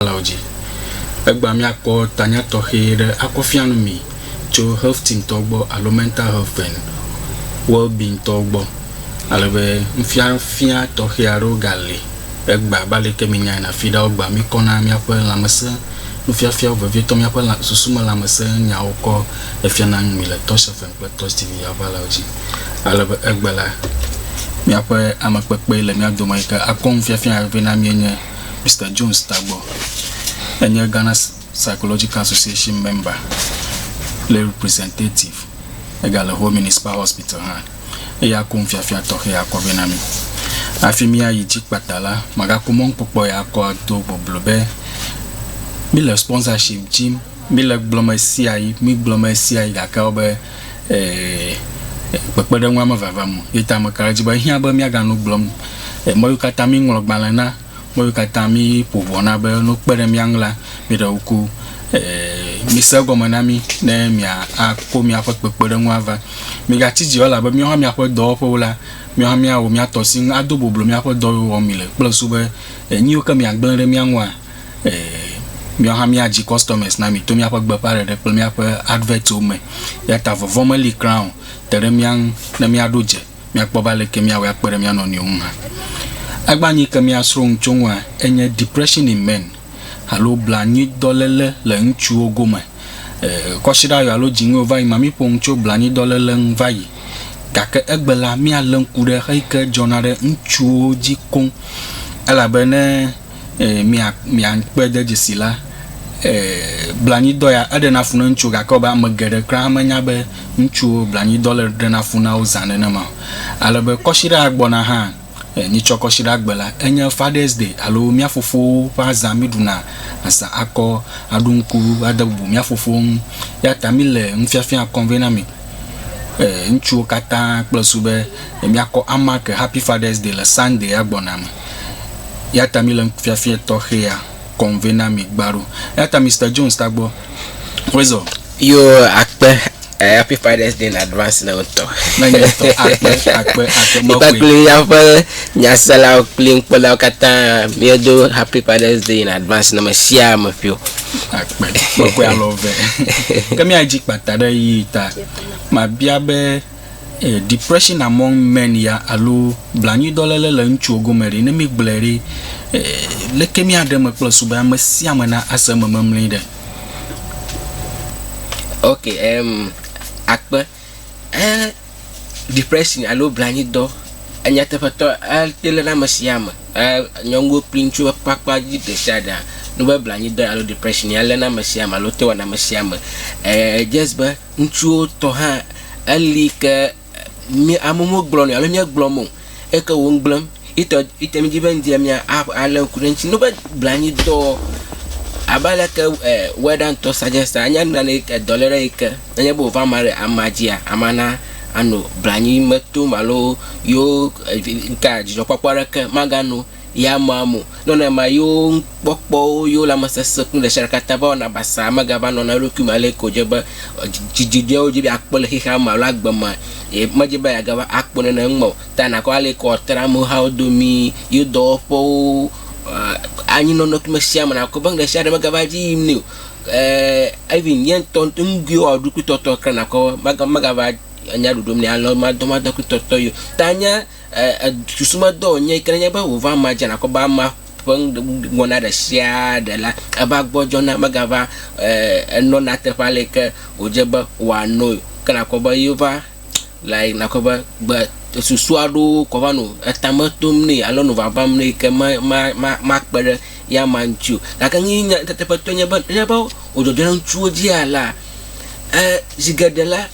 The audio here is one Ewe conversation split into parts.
nukpɔlawo dzi. Egbea míakpɔ tanya tɔxɛ ɖe akɔ fia nu mi tso Health Team tɔwo gbɔ alo Mental Health and Wellbeing tɔwo gbɔ, ale be nufiafia tɔxɛ aɖewo gali egbea abe aleke mienyae na fiɖa wogbea mikɔ na míaƒe lãmesẽ nufiafiawo vevietɔ míaƒe lã susu me lãmesẽ nyawo kɔ efiana nu mi le Tosh FM kple Tosh TV aʋalawo dzi ale be egbe la míaƒe amekpekpee le mía dome yi ke akɔ nufiafia ya vevie na míenye. Mister Jones tagbɔ. Enye Ghana Psychological Association member kple representative. Egale Ho Municipal Hospital hã. Eya ko nufiafia tɔxɛ akɔ vɛ na mi. Hafi míayi dzi kpata la, magakpɔ mɔnukpɔkpɔ ya akɔ ado boblo be míle sponsorship dim. Míle gblɔm ɣesiaɣi, mígblɔm ɣesiaɣi gake wobe. kpekpeɖeŋua mevava me o. Ye ta meka ɖe edzi be ehiã be míaganɔ nu gblɔm mɔ yewo katã míeŋlɔ gbalẽ na, mɔ yewo katã míeƒo ʋɔ na be ne wokpe ɖe mía ŋu la, míeɖe ŋku mise egɔme na mí ne miakɔ míaƒe kpekpeɖeŋu ava. Migatsi dzi o elabe míawo hã míaƒe dɔwɔƒewo la, míawo hã míawɔ mía tɔ si ŋu ado boblo míaƒe dɔ yiwo wɔm mile kple susu be nu yiwo ke miagblẽ ɖe mía ŋua, Míawo hã mía dzi customers na mi to míaƒe gbeƒãɖeɖe kple míaƒe adverts wo me. Eya ta vɔvɔ̃ meli kura o. Te ɖe mía ŋu ne míaɖo dze míakpɔ be aleke míawɔe akpe ɖe mía nɔnɔewo ŋu hã. Egbea nu yi ke míasrɔ̃ nu tso eŋua enye Depression in Men alo Blanui-dɔléle le Ŋutsuwo Gome. Kɔsiɖa yɔ alo dziŋɔ yɔ va yi mea, míƒo nu tso blanui-dɔléle ŋu va yi. Gake egbe la, míalé ŋku ɖe xeyi ke dzɔna ɖe ŋutsuwo dzi koŋ elabe ne. miakpe ɖe dzesi la, blanui ya eɖena fu na ŋutsuwo gake wɔbe ame geɖe kura menya be ŋutsuwo blanui dɔ le ɖena fu na wo zã nenema o. Ale be kɔsiɖa ya gbɔna hã, mitsɔ kɔsiɖa gbe la enye Father's Day alo mía fofowo ƒe azã miɖuna azã akɔ aɖo ŋku ade bubu mía fofowo ŋu. Eyata mile nufiafia kɔm vɛ na mi. eh ŋutsuwo katã kple su be míakɔ amake happy fathers day le sunday ya gbɔna me eyata míle nufiafia tɔxɛ ya kɔm vɛ na mi gbaɖo eyata Mister Jones tagbɔ wezɔ yo akpe eh, happy fathers day in advance na wotɔ na nye tɔ akpe akpe akpe mekɔe kpakple míaƒe nyaselawo kple nukpɔlawo katã míedo happy fathers day in advance na me sia ame ƒio akpe kpekpe alo eve ke míadzi kpata ɖe yi ta mabia be eh, depression among men ya alo blanyuidɔléle le ŋutsuwo gome ɖi ne mígblɔe ɖi eh, leke míaɖe me kple su be ame sia ame na ase eme memli ɖe ok em akpe Ẽ, depression alo blanyidɔ enyateƒetɔ ete ɖe ame sia ame, nyɔnuwo kple ŋutsuwo ƒe akpa dzi ɖe sia ɖea, ne be blanyidɔ alo depression ya léna ame sia ame alo te wɔna ame sia ame. Ee just be ŋutsuwo tɔ hã eli ke mí amewo megblɔ nɛ o alo míegblɔ me o. eke wo ŋgblẽm itɔ ite mi dzi be ŋdi mia alé ŋku ɖe ŋti no be blanyitɔ abe aleke e wɛɖantɔ sajɛsta anya nu nane eke dɔlé ɖe eke nenye be wova ma ɖe ama dzia ama na ano blanyi metom alo yo e ŋka dzidzɔkpɔkpɔ ɖeke maga no. Ya mea mo. Nɔnɔmea yewo ŋukpɔkpɔwo, yewo lãmesesẽ kple nuɖesiaɖe katã va wɔna basaa megava nɔna na eɖokui me ale ko dze be dzidzɔe wodze be yeakpɔ le xexea me alo agbe mea, medze be yeagava akpɔ nene eŋu me o. Ta nàkpɔ ale ko wòatra amehawo domii, yewo dɔwɔƒewo, anyi nɔnɔke me sia me nàkpɔ be nuɖesiaɖe megava edzi yim nɛ o. Ɛɛ even ye ŋutɔ nugoe wòawɔ ɖokuitɔtɔ keŋ nakpɔ be mega megava enya ɖoɖom nɛ ale o, madɔmadɔ kple tɔtɔ ye o. Ta nye. E, e, susumedɔ wònye yi ke nenye be wòva amea dzi nàkpɔ be amea ƒe nuwɔna ɖe sia ɖe la, eva gbɔdzɔna, megava e, enɔna teƒe ale yi ke wòdze be wòanoe. Ke nàkpɔ be ye va le yi nàkpɔ be gbe susu aɖewo kɔ va nɔ etame tom nɛ alo nɔ vavam nɛ yi ke ma, ma, ma, makpe ɖe ya amea ŋuti o. Gake nu yi nyateƒetɔe nye be nenye be wòdzɔdzɔna ŋutsuwo dzia la, e, zi geɖe la,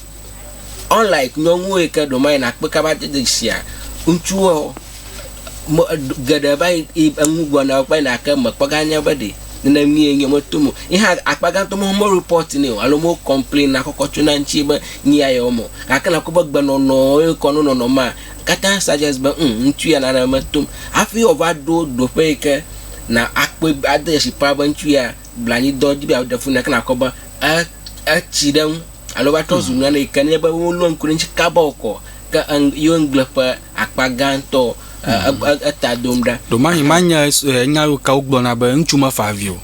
Unlike nyɔnuwo yi ke ɖo ma yi nakpɔe kaba de dzedzisia ŋutsuwoa, me geɖe va yi yi enu gblɔ na wo kpe na ke mekpɔ ganya be ɖe nene mie nye meto mo. Yi hã akpa gãtɔ me mo report nɛ o alo mo complain na kɔkɔ tso na ŋuti be nu ya yewɔ mo. Gake nakpɔ be gbenɔnɔ ye kɔ no nɔnɔ ma katã suggest be um ŋutsu ya nane metom. Hafi wòava ɖo ɖoƒe yi ke na akpɔe ade dzesi kpɔa be ŋutsu ya blanyidɔ dzi be yeaɖe fu nɛ ke nàkpɔ be e- etsi ɖe eŋu alo va trɔ zu hmm. nane yi ke nye be wolɔ ŋku ɖe ŋuti kaba wòkɔ ke eng yewo ŋugble ƒe akpa gãtɔ hmm. eta dom ɖa. Ɖomani ma nye nya yiwo ke wogblɔna be ŋutsu mefa avi o.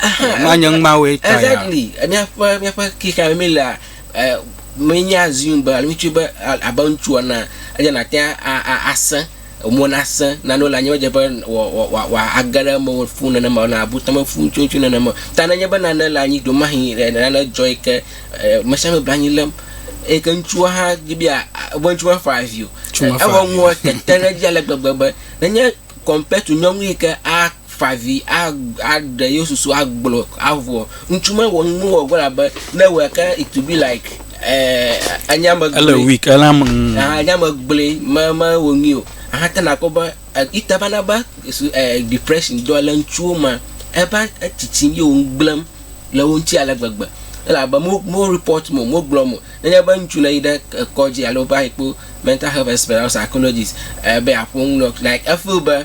Ma nye ŋumawoe ta ya. Exactly. Míaƒe míaƒe xexea me mílea menye assume be alo ŋutsu be abe ŋutsu ene eye nàte ŋu asẽ. Mo nasẽ na nu le anyigbadze be wòage ɖe eme fũu nenema o, na abu tame fũu ŋutsuŋutsu nenema o. Ta nenye be nane le anyi ɖomahĩ nane dzɔ yi ke ame sia ame le anyi lém eyi ke ŋutsua hã di be yea, be ŋutsu mafa avi o. Ŋutsu mafa avi o. Eŋua ŋua tete ɖe edzi ale gbegbe be nenye compared to nyɔnu yi ke a. Fa avi aɖe yewo susu agblɔ avɔ. Ŋutsu ma wɔ nu wɔ gbɔ abe ne wɔ ke it to be like eh anya me gble. Ele weak ele am. Mm. Ah anya me gble me me wɔ nu o. Ah te na kpɔ be ita ba na ba eh depression dɔ le ŋutsuwo ma. Eba etsitsi ye wo gblem le wo ŋuti ale gbegbe. Ele abe mo mo report mo mo gblɔ mo. Ne nye be ŋutsu ne yi ɖe kɔdzi alo va yi kpo mental health expert alo psychologist eh be aƒo nu like e feel be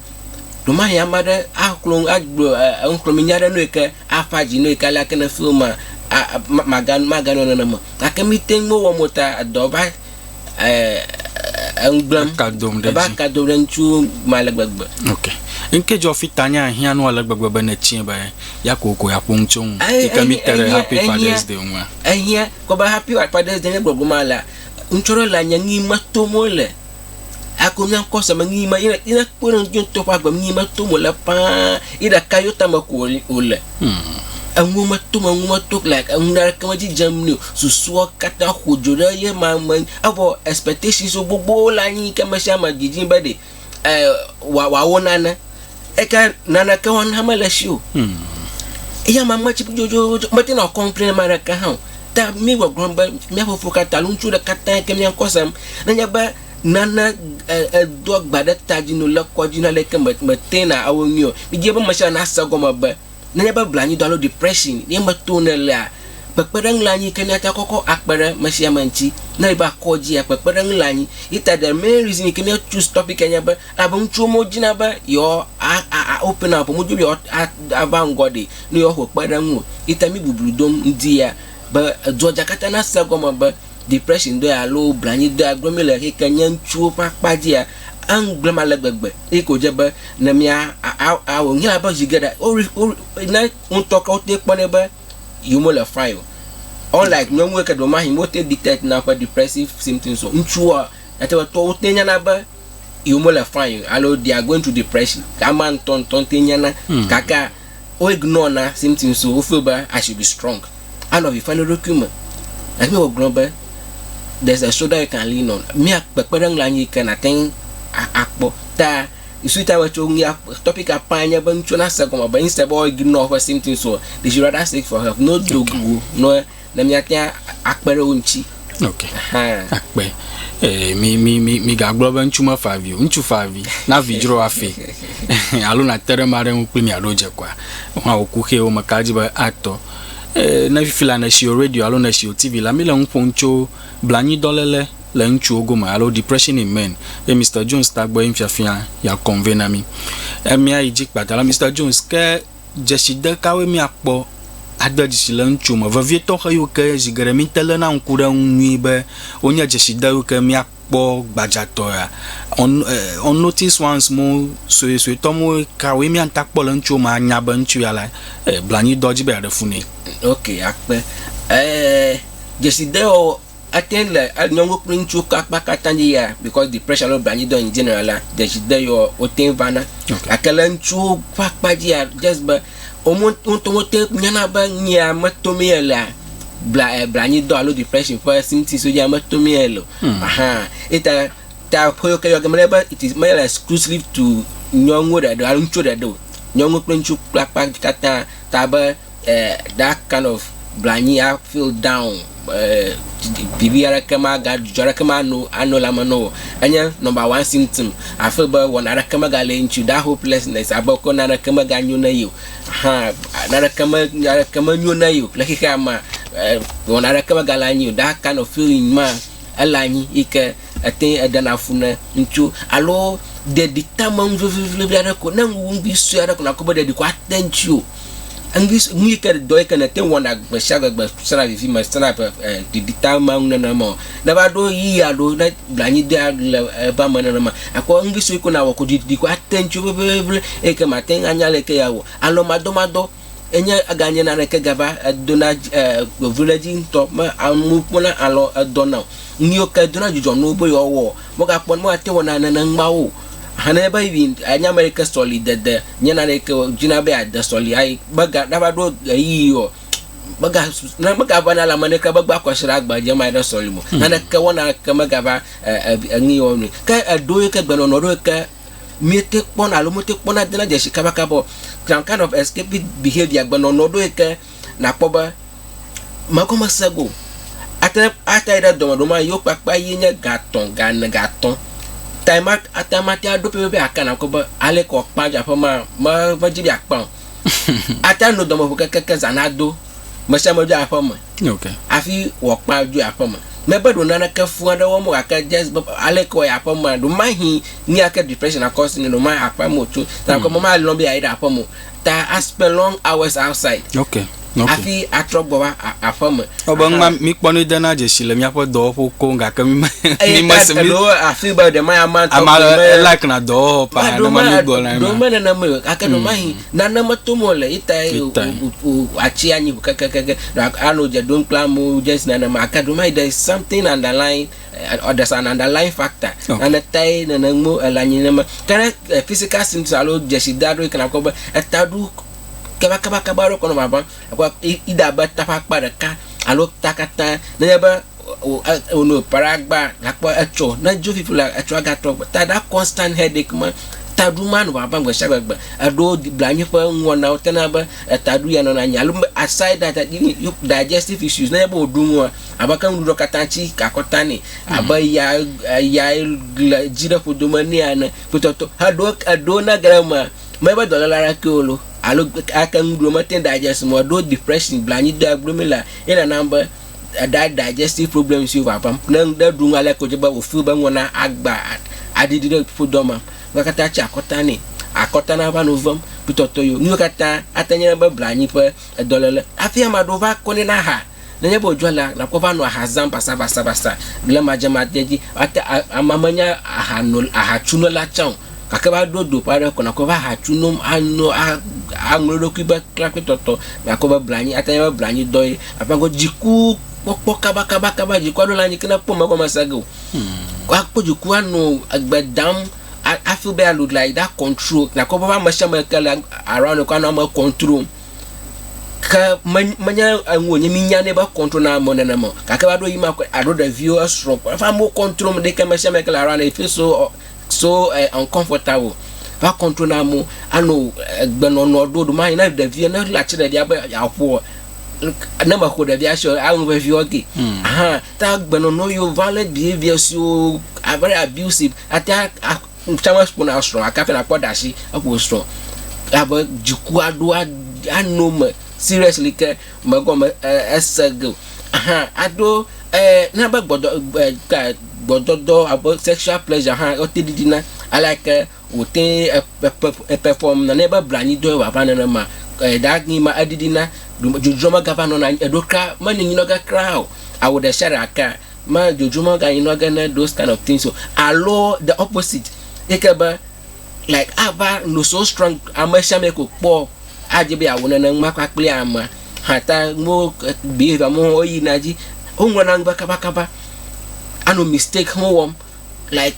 Ɖewohĩ ame aɖe axlɔ̃ nu, agblɔ enuxlɔ̃amenya aɖe na wò yi ke aƒã dzi na wò yi ke aleke ne fiwo ma a a maga maganɔ nenema o. Gake míte ŋu mewɔ mɔ ta edɔ va e e enu gblẽm. Eka dom ɖe Eva edzi. ka dom ɖe ŋutsu me ale gbegbe. Ok. Ŋke dzɔ fi tanya hiã nu ale gbegbe be nètsɔe be ya kokoko yeaƒo nu tso ŋu yi ke míte ɖe Happy Fathers Day ŋua? Ehiã kɔ be Happy Fathers Day nye gbɔgbɔma lea, ŋutsu aɖewo le anye nu yi me tom wole. Hakoe míakɔ se me nu yi ma yina yina kpe ɖe ŋuti ŋutɔ ƒe agbe nu yi ma tom wòle paa yi ɖeka yo tame ko wòle. Eŋuwo meto me eŋuwo meto like eŋu aɖeke medzi dzem nɛ o. Susua katã ƒo dzo ɖe ye ma me evɔ expectations gbogbowo le anyi yi ke ame sia ame didim be ɖe e wɔ wɔ wòawo nane. Eke naneke wɔna mele esi o. Hmm. Eya ma meti dzodzodzo meti na kɔmplen ma ɖeke hã o. Ta mi gbɔgblɔ be mia fofo katã lu ŋutsu ɖeka tã ke mia ŋkɔ sem. Ne nye be nana edo agba ɖe ta dzi no le kɔdzi na ɖeke me me tena awo nyuiɔ. Mi dze be me sia na se gɔme be Nenye be blanui dɔ alo depression ye meto ne elea, kpekpeɖeŋu le anyi ke míate akɔkɔ akpe ɖe mesiame ŋuti. Ne ele be akɔ dzi ya, kpekpeɖeŋu le anyi. Ye ta the main reason yi ke mía choose topic ya nye be, elabe ŋutsuwo me wodina be yewoa a a a open up o, womedi be yewoa a ava ŋgɔ ɖi ne yewoaxɔ kpeɖeŋu o. Ye ta mí bublu dom ŋdi ya be edua dza katã nase egɔme be, depression dɔe alo blanyidɔea gblɔm míele eyi ke nye ŋutsuwo ƒe akpa dzia, egblɔm ale gbegbe eyi ke wòdze be ne mía a a wònye abe zi geɖe wo wo ne ŋutɔ ke wote kpɔnɛ be yewomele fine o. Unlike nyɔnuwo ke ɖewomahĩ wote detect na woƒe depressive symptoms o. Ŋutsuwoa, nàte ŋu akpɔ be wote nyana be yewomele fine o alo they are going through depression. Amea ŋutɔŋutɔ ye te nyana. Gakaa. Wo ignore na symptoms wo, wo feel be I should be strong. Anɔ avi fam ɖe eɖokui me. Gake Bible gblɔ be there's a shoulder you can lean on. Mía kpekpeɖeŋu le anyi yi ke nàte ŋu akpɔ. Ta you see ta be tso nu ya topic ya ƒã nye be ŋutsuwo nase gɔme be instead be woa ignore woƒe symptoms o, they should rather seek for help. No do go ne ne míate ŋu akpe ɖe wo ŋuti. Ok. Akpe. Eh, mi, mi, mi, mi gagblɔ be ŋutsu mefa avi o. Ŋutsu fa avi. Na vi dzro afi. Alo nate ɖe ma ɖe ŋu kpli miaɖo dze kɔa. Hã wò kuxee wo meka dzi be atɔ. Eh, ne fifi la nèsi o radio alo nèsi o TV la, mi le ŋu ƒom tso blanyiidɔlele le ŋutsuwo gome alo depression in men. Ye Mister Jones tagbɔ ye ŋu fiafia ya convey na mi. Eh, miayi dzi kpata la, Mister Jones, ke dzeside kawoe míakpɔ ade dzesi le eŋuti me vevietɔ xeyiwo ke zi geɖe míte léna ŋku ɖe eŋu nyuie be wonye dzeside yiwo ke míakpɔ gbadzatɔea? On, uh, on notice ones mo suesuetɔ mo kawoe míate ŋu akpɔ le eŋuti me anya be ŋutsu ya la eh, blanui dɔ dzi be yeaɖe fu nɛ. Ok, akpe. Eh, dzesidewɔwɔ Ate ŋu le nyɔnuwo kple ŋutsuwo ƒe akpa katã dzi yia because depression alo blanyidɔ in general la dzesi de yio wote ŋu vana. Gake le ŋutsuwo ƒe akpa dzia just be woawo ŋutɔ wote ŋu nyana be nuya metomee elea bla blanyidɔ alo depression ƒe symptoms wodzia metomee ele o. Aha eyata ta ƒeyiwo ke yɔ ge menye be it is menye le exclusive to nyɔnuwo ɖeɖe o alo ŋutsuwo ɖeɖe o. Nyɔnuwo kple ŋutsuwo ƒe akpa katã ta be. that kind of blanyi a feel down bibi eh, aɖeke maga dzudzɔ aɖeke mano ano le ame nɔ wò enye number one symptom afi be wɔna aɖeke mega le ŋutsu that hopelessness abe ko na aɖeke mega nyo ne yi o hã na aɖeke me aɖeke menyo ne yi o le xexea me wɔna aɖeke mega le anyi o that kind of feeling ma ele anyi yi ke Etee eɖena fu ne ŋutsu alo ɖeɖi tame nu vevievi aɖe ko. Ne ŋu ŋugui sue aɖe ko nakpɔ be ɖeɖi ko ate ŋutio, ŋugui s nu yi ke dɔ yi ke nète ŋu wɔna gbesiagbe gbe sena vivime sena ƒe e ɖeɖi tama nu nenema o. Ne va ɖo ʋeyiɣi aɖewo ne blanui dea le ebe ame nenema akpɔ ŋugui sue ko nawɔ ko ɖeɖi ko ate ŋutio vevievi eyi ke màte ŋu anya le yi ke yeawɔ. Alɔ̃madɔmadɔ. Enye ganye naneke gava edona vevule edzi ŋutɔ me amewo kpɔna alɔ edɔ na o. Nuyiwo ke edona dzidzɔ na wo be yewoa wɔ megakpɔ me ate wɔna nene ŋgbawo. Hana be yi anya me ɖeke sɔli dede nye naneke o dzina be ade sɔli ayi mega nava ɖo ɣeyiɣi o mega ne mega vana le ame ɖeke be gba kɔsira gba dze ma ɖe sɔli mo. Naneke wɔna ke megava e e enuyi wɔnui ke eɖoyi ke gbenɔnɔ ɖoyi ke Míete kpɔna alo míete kpɔna dena dzesi kabakaba o. Some kind of escapist behavior gbenɔnɔ ɖo yi ke nàkpɔ be megɔme sẽ go. Ate ŋu ate yi ɖe dɔme ɖewo ma yewo kpakpa ye nye gatɔ̃, gane, gatɔ̃ tae ma ate ŋu ate ɖo pɛpɛpɛ aka nakpɔ be aleke wòakpa aƒe maa, meva dzi be yeakpa o. Ate ŋu no dɔmeƒo kekeake zã nado, ame sia ame dzo aƒe me hafi wòakpa dzo yi aƒe me. Mebe ɖe naneke fũ aɖe wɔm o gake edze sii be aleke wòayi aƒe mea, ɖe mahi nu ya ke depression akɔ asi nɛ, ɖe mayi aƒea me wòtso ta ko mele be yealɔ̃ be yeayi ɖe aƒe me o. Ta aspend long hours outside. hafi atrɔ gbɔ va aƒe me. Wobe ŋgba míkpɔ nui dena dzesi le míaƒe dɔwɔƒewo koŋ gake mi me mi me se mi. Eɖo afi be ɖe ma ya ma tɔ. Ame aɖe like na dɔwɔwɔ pa ne ma mi gbɔ na ema. Ɖo me nana me gake ɖo ma hi nane me to mo le ita ye o atsi anyi kekekeke ano dze ɖom kple amewo just nana me ake ɖo ma hi there is something underline or there's an underline factor nane tae nene mo elanyi ne me ke physical symptoms alo dzesi da ɖo yi ke na kpɔ be eta ɖo. kabakabakaba aɖewo kɔ nɔ ʋaʋãm. Ekpɔ Ida be ta ƒe akpa ɖeka alo ta katã nenye be wò e wònɔ eƒe ɖe agba gakpɔ etsɔ ne dzo fifi la etsɔa gatrɔ gbɔ. Ta ɖa constant headache ma taɖo ma nɔ ʋaʋãm gbe sia gbe gbe. Eɖewo di blanui ƒe nuwɔnawo tena be etaɖo ya nɔna anyi alo be aside that even you digestive issues nenye be wòɖu nua abe ke nuɖuɖua katã tsi ka akɔta nɛ abe ya e ya le dzi ɖe ƒodome nɛ ene kpɔtɔtɔ eɖewo eɖewo ne ge ɖe emea Menye be dɔléle aɖe kee wòlɔ alo ake nu ɖo mete ŋu digest mɔ ɖo depression, blanyidoea gblɔ mí lea, ye nana be eɖa digestive problems siwo vavãm. Ne ŋɖe ɖu nu ale ko dze be wò feel be ŋɔ na agba aɖiɖi ɖe ƒodɔ me, nua katã tsi akɔta nɛ, akɔta nava nu vem, kpetɔtɔ yio. Nuwo katã ate ŋu nye be blanyi ƒe edɔléle. Hafi ame aɖewo va kɔnɛ na ha. Nenye be wòdzɔa alea, nàkpɔ be anɔ aha zãm basabasabasa blemadzemadzea dzi. Ate, a, amea menye ahano, ahatsunɔla tsã o, gake va ɖo do ƒe aɖe ko nàkpɔe be ahatsu nom, ano, a, aŋlɔ eɖokui be klakpɛtɔtɔ. Nàkpɔ be blanui, ate ŋu anye be blanyudɔ ye. Aƒã go dziku kpɔkpɔ kabakabakaba, dzikua ɖo la anyi ke ne ekpɔ megɔmese ge o. Ko akpɔ dziku anɔ egbe dam, a, a feel be ya look like that control. Nàkpɔ be eƒe amesiame ke le around ye ko anɔ eme control. ke menye enu wònye minyanɛ be kɔntro na amewo nenema gake va ɖo yi ma kɔe aɖo ɖeviwo esrɔ kɔ eƒe amewo kɔntro me ɖeke me sia me ke le around e feel so so uncomfortable va kɔntro na amewo anɔ egbenɔnɔ ɖo ɖomayi ne ɖevia ne le atsi ɖevia be yeaƒoa ne meƒo ɖevia si o anu vevi wɔ ke hmm. hã ta gbenɔnɔ yewo violent behavior siwo very abusive ate Ŋutsua mekpɔ na srɔ̃ gake hafi nakpɔ ɖa si eƒo srɔ̃ ya be dziku aɖo ano me seriously ke megɔme ese ge o hã aɖo na be gbɔdɔdɔ alo sexual pleasure hã wote ɖiɖi na aleke wote perform na ne be blanyi dɔe wòava nenema that mean ma eɖiɖi na dzodzro megava nɔna eɖo kura menɔ anyi nɔ ge kura o awu ɖesiaɖe aka. me dzodzo meganyi nɔ ge ne those kind of things o alo the opposite yi ke be like ava no so strong ame sia ame ko kpɔ adze be yeawɔ nene ma kpakple amea hata mo behavior mo woyina dzi woŋlɔna nu be kabakaba ano mistake mo wɔm like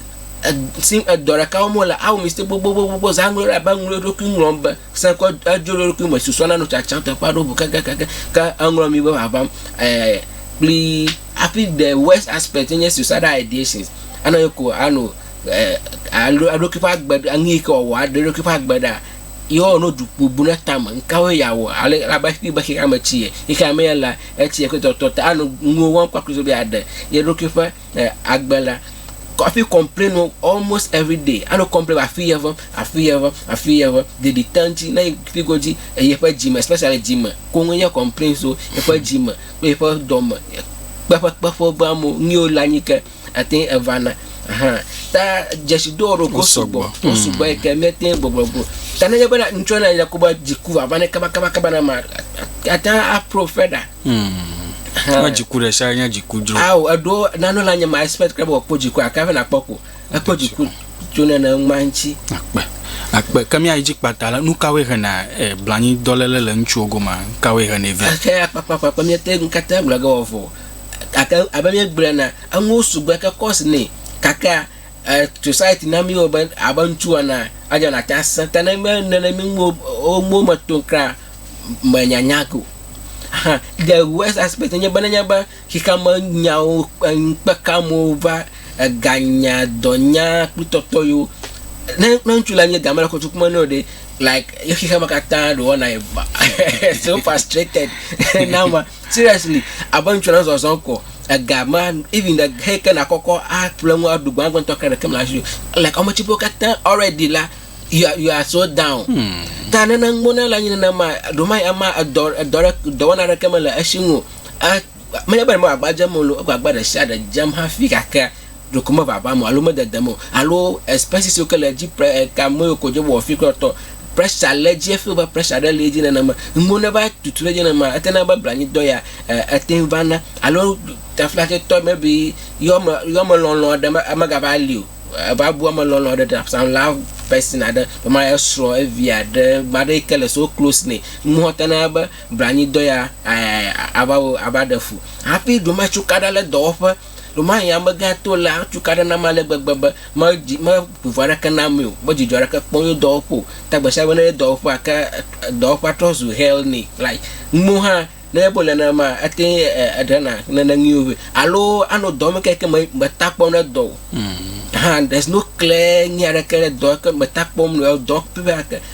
sim edɔ ɖeka wɔm wole awo mistake gbogbogbogbo zã ŋlɔ ɖe abe ŋlɔ eɖokui ŋlɔm be se kɔ edzo ɖe eɖokui me susɔ na no tsatsam teƒe aɖewo ʋu kekekeke ke eŋlɔ mi be vavam ɛɛ kpli hafi the worst aspect nye suicidal ideations anɔ ye ko ano eh, alo aɖoki ƒe agbe ŋu yi ke wòawɔ aɖe ɖoki ƒe agbe ɖa yehowa no dukpu bu ɖe tame ŋkawo yàwɔ ale abe xexi be xexi ame tsi ye yi ke ame ye la etsi ye ƒe tɔtɔ ta ano nuwo wɔm kpakple so be aɖe ye ɖoki ƒe eh, agbe la hafi complain wo almost every day ano complain afi ye ʋem afi ye ʋem afi ye ʋem ɖeɖi te ŋuti ne figo dzi eh, yeƒe dzime especially dzime koŋu ye complain so yeƒe dzime kpe ƒe dɔ me kpe ƒe kpe ƒe ƒe amewo nu yiwo le anyi ke ate ŋu eva na hã ta dzesidowo ɖo ko sugbɔ ko mm. sugbɔ yi ke míete ŋu gbɔgblɔ go ta nenye be ŋutsu na yina ko be dziku vava ne kabakabakaba na ma ate ŋu apro fe ɖa na mm. dziku ɖe sia nye dziku dzro awo eɖo nanu la nye ma expect kple be wòakpɔ dziku akaƒe nakpɔ ko Ekpɔ dziku tso nene ŋma ŋuti. Akpe, akpe. Ke míayi dzi kpata la, nu kawoe hena e, blanyidɔléle le ŋutsuwo gomea? Nu kawoe henɛ vɛ? Eke akpakpakpakpa míete ŋu katã agblɔ ge wɔ vɔ. Gake abe míegblɔ ene, enuwo sugbɔ eke kɔs nɛ. Gake e, society na mí wo be abe ŋutsu ene adzɔ nàte ŋu asẽ. Ke ne menye nene mí nuwo o, nuwo me tom kura mènyanya ge o. Ahan, the worst aspect enye be nenye be xexeame nyawo kpe ŋukpekea amewo va eganya, dɔnya kple tɔtɔ yiwo. Ne ne ŋutsu la nye dame le kɔtuku me nɛ o ɖe like ye xexeame katã ɖe wɔna ye va so frustrated na ma seriously abe ŋutsu la zɔzɔm ko ega ma even ɖe xe ke nakɔkɔ aƒle ŋu aɖu gbã gbãtɔ ke ɖeke mele asi o like ame tsiƒewo katã already la you are, you are so down hmm. ta nene ŋgbona la nye nenema ɖomai ama edɔ edɔ ɖe dɔwɔna ɖeke mele esi ŋu o a menye be ɖe agbagba dzem o loo egbagba ɖe sia ɖe dzem hafi gake ɖeko mevavam o alo mededem o alo expenses yiwo ke le edzi pre e, kame yiwo ko dze wɔwɔ fi kple tɔ pressure le edzi efi be pressure ɖe le edzi nenema nuwo ne va tutu ɖe edzi nenema ete na be blanyidɔ ya e, ete ŋu va na alo taflatitɔ maybe yɔme yɔmelɔlɔ aɖe me- megava li o eva bu amelɔlɔ aɖe ɖe some love person aɖe ema esrɔ̃ evi aɖe ame aɖe yi ke le so close nɛ nuwo te na be Blanui-dɔ ya ava wo ava ɖe fu. Hafi ɖewoma cukaɖa le dɔwɔƒe. Ɖewomahi amegã to lea cukaɖa nam ale gbegbe be me dzi me ŋuŋu aɖeke na mee o. Me dzidzɔ aɖeke kpɔm ye dɔwɔƒe o. Ta gbe sia gbe ne ye dɔwɔƒea ke dɔwɔƒea trɔ zu hell ne like nuwo hã ne ebe wole nenema ate ŋu eɖe na nene nyuiwo vɛ alo ano dɔ me keke me meta kpɔm ne dɔ o. Hã there's no clear nyui aɖeke ɖe dɔ ke meta kpɔm le dɔ ƒe ake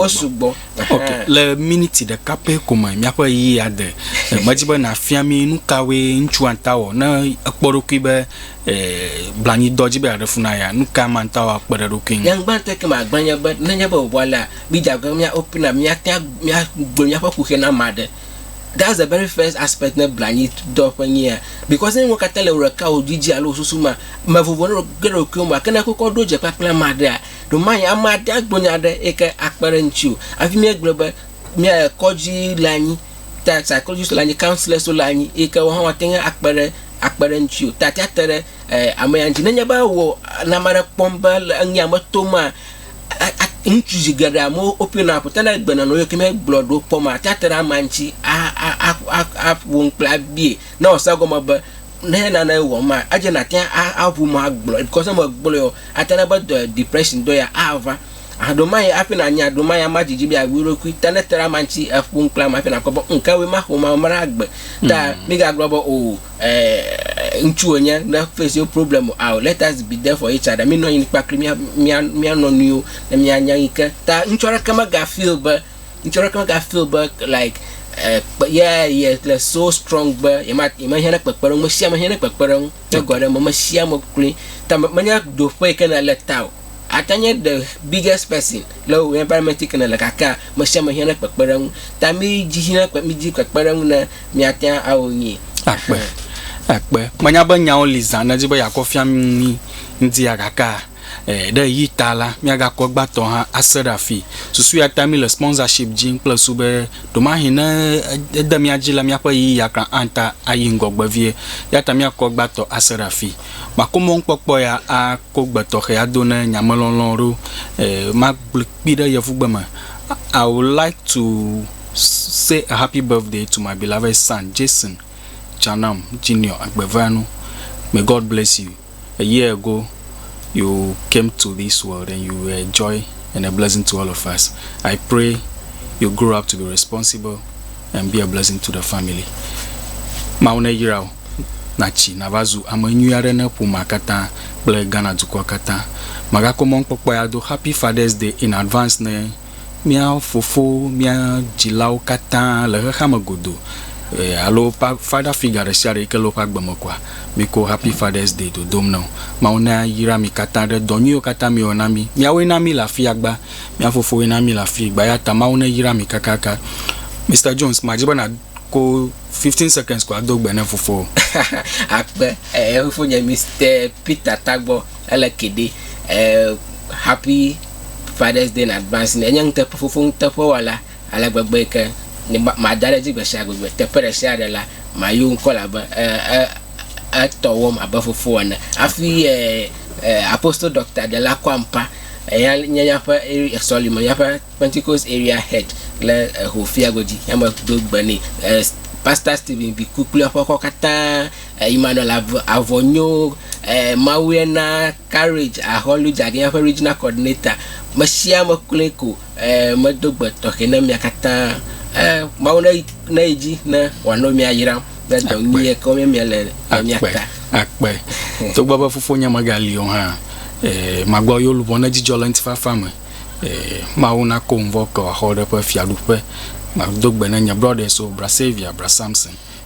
wosugbɔ ok le miniti ɖeka pɛ ko me míaƒe ɣeyiɣi ade medi be nàfia mí nu kawoe ŋutsu anta wɔ ne ekpɔ ɖokui be blanyidɔ dzi be yeaɖe fu na ya nu ka ame anta wɔ akpe ɖe eɖokui ŋu nyaŋgbãtɔe ke magblɔ nye be nenye be wòwɔ alea mídze agbagba be mía open up míate míagblɔ míaƒe kuxi na ame aɖe that's the very first aspect ne blanyidɔ ƒe nyia because ne nuwo katã le wò ɖekawò dzi dzi alo wò susu mea mevovona ɖe ɖokuiwò me gake ne ekpɔkpɔ ɖo dze kpakple ame aɖea Ɖewomahi ame aɖe agblɔ nya aɖe eyi ke akpe ɖe ŋuti o hafi míegblɔ be mía kɔdzi le anyi ta psychologist le anyi counsellors le anyi eyi ke woawo hã woate ŋu akpe ɖe akpe ɖe eŋuti o ta ate ŋu ate ɖe e ame ya ŋuti. Nenye be wò le ame aɖe kpɔm be le enu ya me tom maa e e ŋutsu zi geɖe amewo woƒina ƒo ta ne egbe nɔ nɔewo yike mía gblɔ ɖewo kpɔ maa ate ŋu ate ɖe amea ŋuti a a a a aƒo nu kple abie ne wòase egɔme be ne nane wɔm ma edze nate aʋu ma gblɔ because ne megblɔe o ate na be dɔ depression dɔ ya ava aɖo ma ye afi na nya ɖo ma ya ma dzidzi bi awi ɖokui ta ne tra ma ŋuti eƒu ŋkla ma afi na kpɔ be nke we ma xɔ ma mra agbe ta mi ga gblɔ be o ɛɛ ŋutsu wonye ne face your problem o let us be there for each other mi nɔ anyi kpakple mia mia mia nɔ nuiwo ne mia nya yi ke ta ŋutsu aɖeke mega feel be Ŋutsu aɖeke mega feel be like eh, kpe- yeah, yeah, le so strong be yema- yemehiã ɖe kpekpeɖeŋu. Mesia mehiã ɖe kpekpeɖeŋu. Tso gbe aɖe me, mesia me kloe. Ta me- menye ɖoƒe yi ke nèle ta o. Ate nye the biggest person le wò environment yi ke nèle gakea, mesia mehiã ɖe kpekpeɖeŋu. Ta midzi hiã ɖe kpe- midzi kpekpeɖeŋu ne miate ŋu awɔ nyuie. Akpe, akpe. Menya be nyawo li zã ne edzi be yeakɔ fia mí ŋdia gakea, Ɛɛ, ɖe ɣeyiɣi ta la, míagakɔ gbãtɔ hã ase ɖe afii. Susuea ta míle sponsorship dim kple ŋsu be ɖewomahi ne ede mía dzi la, míaƒe ɣeyiɣia kura ate ayi ŋgɔgbe vie. Eya ta míakɔ gbãtɔ ase ɖe afii. Màko mɔnukpɔkpɔ ya ako gbe tɔxɛ ado ne nyamelɔlɔ̃ ɖo. Ɛɛ, magblɔe kpi ɖe Yevugbe me, I would like to say a happy birthday to my beloved son, Jason Chanam Junior Agbevanu. May God bless you. a year ago you came to this world and you were a joy and a blessing to all of us. I pray you grow up to be responsible and be a blessing to the family. Mawu ne yra o natsi nava zu ame nyui aɖe ne ƒomea katã kple Ghana dukɔa katã. Magakɔ mɔnukpɔkpɔ ya do Happy Father's Day in advance ne mía fofowo, mía dzilawo katã le xexea me godoo ɛɛ alo woƒe father figure ɖe sia ɖe yike le woƒe agbe me kɔa, míkɔ Happy Father's Day dodom na wo. Mawu nayra mi katã ɖe dɔ nyuiwo katã miwɔ na mí. Miawoe na míle afia gbã. Mía fofowoe na míle afii gbã. Eya ta Mawu neyra mi kakaka. Mister Jones, madzi be nàko fifteen seconds ko ado gbe na fofowò. Akpe, ɛɛ, Fofonye Mister Peter Tagbɔ. Ele ke ɖe eh happy father's day in advance ne nye nuteƒe fofo nuteƒe wɔla ale gbegbe yi ke nye ma mada ɖe edzi gbe sia gbe be teƒe ɖe sia ɖe la mayo ŋkɔ elabe eh eh etɔ wɔm abe fofo ene hafi eh apostle Doctor Dela Kwampah eya nye míaƒe area sɔlime míaƒe Pentecost area head le Ehofia godzi ya me do gbe nɛ eh pastor Stephen Biku kple eƒe xɔ katã Emmanuel Avonyo, Mawuye na courage ahɔlu dzaɖinya ƒe Regional Coordinator. Mesiame kloe ko medo gbe tɔxɛ na mia katã. Mawu ne yi dzi ne wòano mia yram kple dɔ nyui yi ke mia le le mia ta. Akpe. Togbɔ be fofonye megali o hã, magblɔ yewo luʋɔ ne dzidzɔ le ŋutifafa me. Mawu nako ŋvɔ ke wòaxɔ eƒe fiaɖuƒe. Mado gbe na nye brothers wo, Bra Saviour, Bra Samson.